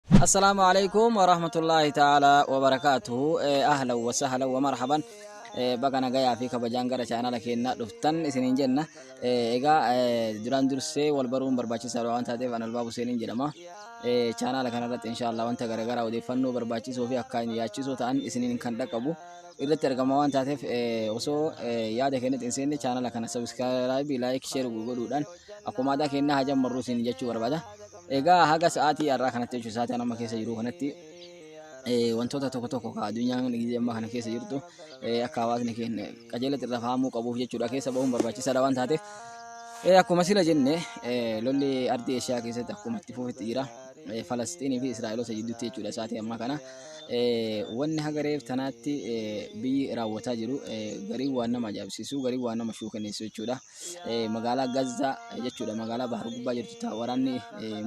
Assalaamu alaikum warahmatullaahi ta'aalaa wabarakaatuhu ahlan wa sahlan wa marhaban baga nagayaa fi kabajaan gara chaanala keennaa dhuftan isiniin jenna egaa duraan dursee wal baruun barbaachisaadha waan taateef an albaab huseeniin jedhama chaanala kanarratti inshaallah wanta garaagaraa odeeffannoo barbaachisoo fi akkaan yaachisoo ta'an isiniin kan dhaqqabu irratti argama waan taateef osoo yaada keenyatti hin seenne chaanala kana sabiskiraayibii laayik sheer godhuudhaan akkuma aadaa keennaa hajammarruu isin jechuu barbaada Egaa haga sa'aatii har'aa kanatti jechuun sa'aatii amma keessa jiru kanatti wantoota tokko tokko ka addunyaan gizee ammaa kana keessa jirtu akka hawaasni keenya qajeelatti irra fahamuu qabuuf jechuudha keessa bahuun barbaachisaadha waan taateef. Akkuma sila jenne lolli ardii Eeshiyaa keessatti akkuma itti fufitti jira. Falasxiinii fi Israa'eloota jidduutti jechuudha sa'aatii ammaa kana. Wanni haga reef tanaatti biyyi raawwataa jiru garii waan nama ajaa'ibsiisu garii waan nama shuukanneessu jechuudha. magaalaa Gazzaa jechuudha magaalaa Bahar Gubbaa jirtu ta'a waraanni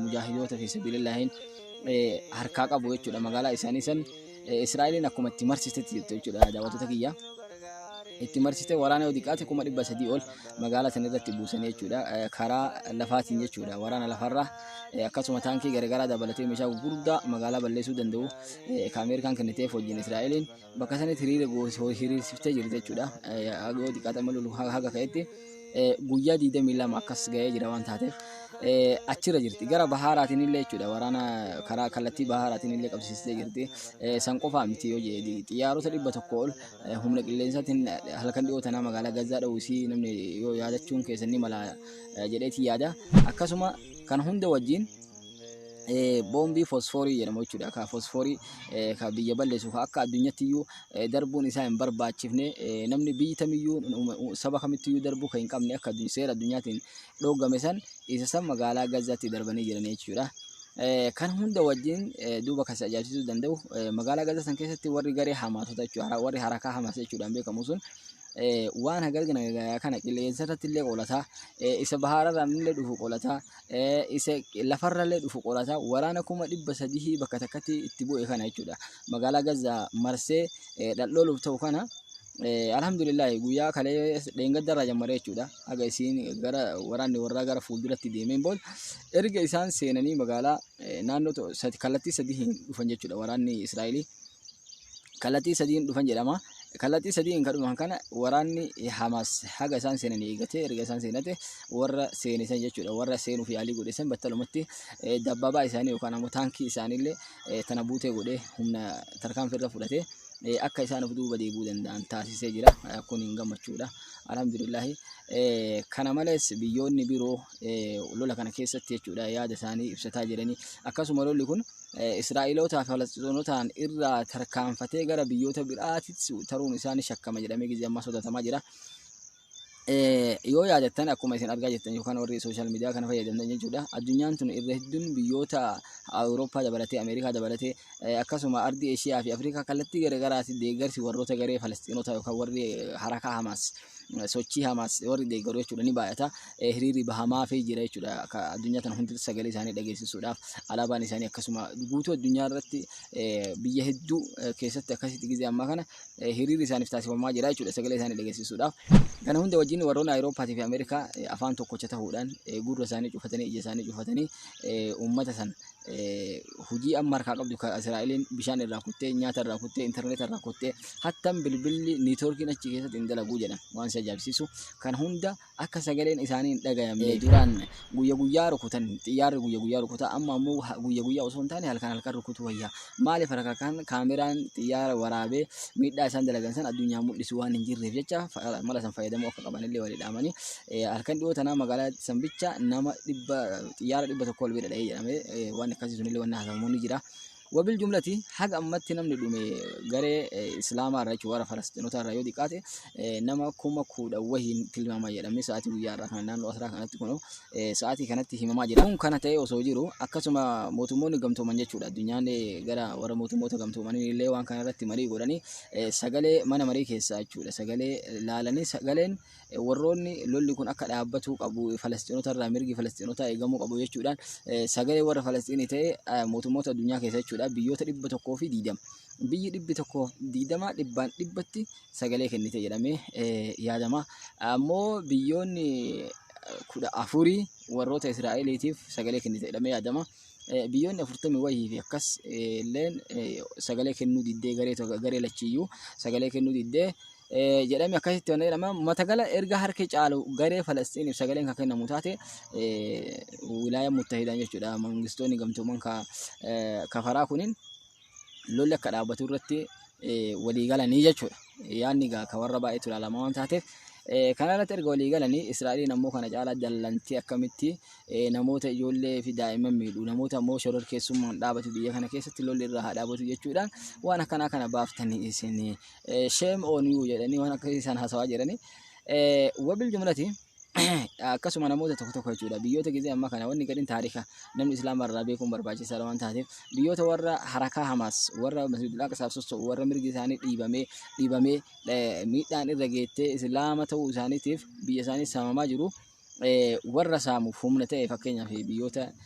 mujaahidoota fi sabilillahiin harkaa qabu jechuudha magaalaa isaanii san Israa'eliin akkuma itti marsistetti jirtu jechuudha daawwattoota kiyya. Itti marsite waraana yoo xiqqaate kuma dhibba sadii ol magaalaa sana irratti buusan jechuudha karaa lafaatiin jechuudha waraana lafarraa akkasuma taankii garagaraa dabalatee meeshaa gurguddaa magaalaa balleessuu danda'u ka Ameerikaan kenniteef wajjin Israa'eliin bakka sanitti hiriira hiriirsiftee jirti jechuudha. Yoo xiqqaate amma lolu haga ka'etti guyyaa 22 akkas ga'ee jira waan taateef achirra jirti. Gara bahaaraatiin illee jechuudha waraana karaa kallattii bahaaraatiin illee qabsiistee jirti. San qofaa miti yoo jedhe xiyyaarota dhibba tokko ol humna qilleensaatiin halkan dhiyoo tanaa magaalaa Gazzaa dha'uu isii namni yoo yaadachuun keessan ni mala jedheeti yaada. Akkasuma kan hunda wajjin boombii fosfoorii jedhamu jechuudha. Ka fosfoorii ka biyya balleessu ka akka addunyaatti iyyuu darbuun isaa hin barbaachifne namni biyyi tamiyyuu saba kamitti iyyuu darbuu kan hin qabne akka seera addunyaatiin dhoogame san isa san magaalaa Gazaatti darbanii jiran jechuudha. Kan hunda wajjin duuba kan si ajaa'ibsiisuu danda'u magaalaa Gazaa san keessatti warri garee hamaatota jechuudha warri harakaa hamaas jechuudhaan beekamu sun waan hagalgana kana qilleensa irratti illee qolataa isa bahaararraan illee dhufu qolataa eh, isa lafarrallee dhufu qorata waraana kuma dhibba sadihii bakka takkatti itti bu'e kana jechuudha magaalaa gaza marsee eh, dhaldhooluuf ta'u kana eh, alhamdulillah guyyaa kalee dheengaddarraa jammaree jechuudha haga isiin gara waraanni warraa gara fuulduratti deemeen booda erga isaan seenanii magaalaa eh, naannoo to- sadi- kallattii sadihiin dhufan jechuudha waraanni israa'elii kallattii sadiin dhufan jedhama. Kallattii sadiin kan dhufan kana waraanni Hamaas haga isaan seenan eegatee erga isaan seenate warra seenisan jechuudha. Warra seenuuf yaalii godhesan battalumatti dabbabaa isaanii yookaan ammoo taankii isaaniillee tana buutee godhee humna tarkaanfii irra fudhatee akka isaan of duuba deebi'uu danda'an taasisee jira. Kun hin gammachuudha. Alhamdulillahi. Kana malees biyyoonni biroo lola kana keessatti jechuudha yaada isaanii ibsataa jiranii akkasuma lolli kun eh, Israa'elootaa fi Falasxinotaan irraa tarkaanfatee gara biyyoota biraatitti taruun isaa ni shakkama jedhamee gizee ammaa sodaatamaa jira. Eh, yoo yaadattan akkuma isin argaa jirtan yookaan warri sooshaal miidiyaa kana fayyadamtan jechuudha addunyaan tun irra hedduun biyyoota awurooppaa dabalatee ameerikaa dabalatee eh, akkasuma ardii eeshiyaa fi afrikaa kallattii garagaraatti deeggarsi warroota garee falasxiinota yookaan warri harakaa hamaas eh, sochii hamaas warri deeggaru jechuudha ni baay'ata eh, hiriirri bahamaafii jira jechuudha. Akka addunyaa tana hundatti sagalee isaanii dhageessisuudhaaf alaabaan isaanii akkasuma guutuu addunyaa irratti eh, biyya hedduu eh, keessatti akkasitti gizee ammaa kana eh, hiriirri isaaniif taasifamaa jira jechuudha sagalee isaanii dhageessisuudhaaf. Kana hunda wajjin warroonni Awurooppaatii fi Ameerikaa eh, afaan tokkocha ta'uudhaan eh, gurra isaanii cufatanii ija isaanii cufatanii eh, uummata sana eh, hojii amma harkaa qabdu kan Israa'eliin bishaan irraa kuttee nyaata irraa kuttee intarneeta irraa kuttee hattan bilbilli niitoorkiin achi keessatti hin dalaguu jedhan waan si ajaa'ibsiisu kan hunda akka sagaleen isaanii hin dhagayamne duraan guyya guyyaa rukutan xiyyaarri guyya guyyaa rukuta amma ammoo guyya guyyaa osoo hin taane halkan halkan rukutu wayya maaliif harka kan kaameraan xiyyaara waraabee miidhaa isaan dalagan san addunyaa mul'isu waan hin jirreef jecha mala san fayyadamuu akka qaban illee walii dhaamanii halkan dhiyoo tanaa magaalaa san bicha nama dhibba xiyyaara dhibba tokko ol bira dha'ee jedhamee waan akkasii sun illee waan haasamu ni jira. Wabil jumlati haga ammatti namni dhume garee islaamaa irraa jechuun warra falasxinotaa irraa yoo xiqqaate nama kuma kudha wahiin tilmaama jedhamee sa'aatii guyyaa irraa kana naannoo asraa kanatti kun sa'aatii kanatti himamaa jira. Kun kana ta'ee osoo jiru akkasuma mootummoonni gamtooman jechuudha addunyaan gara warra mootummoota gamtoomanii illee waan kana irratti marii godhanii sagalee mana marii keessaa jechuudha sagalee laalanii sagaleen warroonni lolli kun akka dhaabbatuu qabu Falasxiinota irraa mirgi Falasxiinotaa eegamuu qabu jechuudhaan sagalee warra Falasxiinii ta'e mootummoota addunyaa keessa jechuudha biyyoota dhibba tokkoo fi diidama. Biyyi dhibbi tokkoo diidama dhibbaan dhibbatti sagalee kennite jedhamee yaadama. Ammoo biyyoonni kudha afurii warroota Israa'eliitiif sagalee kennite jedhamee yaadama. biyyoonni afurtamii wayii fi akkas illeen sagalee kennuu diddee garee tokko garee lachiyyuu sagalee kennuu diddee jedhame akkasitti wanna jedhama matagala erga harki caalu garee Falasxiiniif sagaleen kan kennamu taate wilaaya muttahiidhaan jechuudha mangistoonni gamtooman kafaraa kunin lolli akka dhaabbatu irratti walii galanii jechuudha. Yaadni egaa akka warra baay'eetu ilaalama waan taateef kana irratti erga walii galanii Israa'eliin ammoo kana caalaa jallantii akkamitti namoota ijoollee fi daa'imman miidhu namoota ammoo shororkeessummaan dhaabatu biyya kana keessatti lolli irraa haa dhaabatu jechuudhaan waan akkanaa kana baaftanii isin sheem ooniyuu jedhanii waan akkasii isaan haasawaa jedhanii wabil jumlatii akkasuma namoota tokko tokko jechuudha biyyoota gisee amma kana wanni gadhin taariika namni islaama irraa beekuun barbaachisaadha waan taateef biyyoota warra harakaa hamaas warra masjidul aqsaaf sossoo'u warra mirgi isaanii dhiibamee dhiibamee eh, miidhaan irra geettee islaama ta'uu isaaniitiif biyya isaanii saamamaa jiru eh, warra saamuuf humna ta'e fakkeenyaaf biyyoota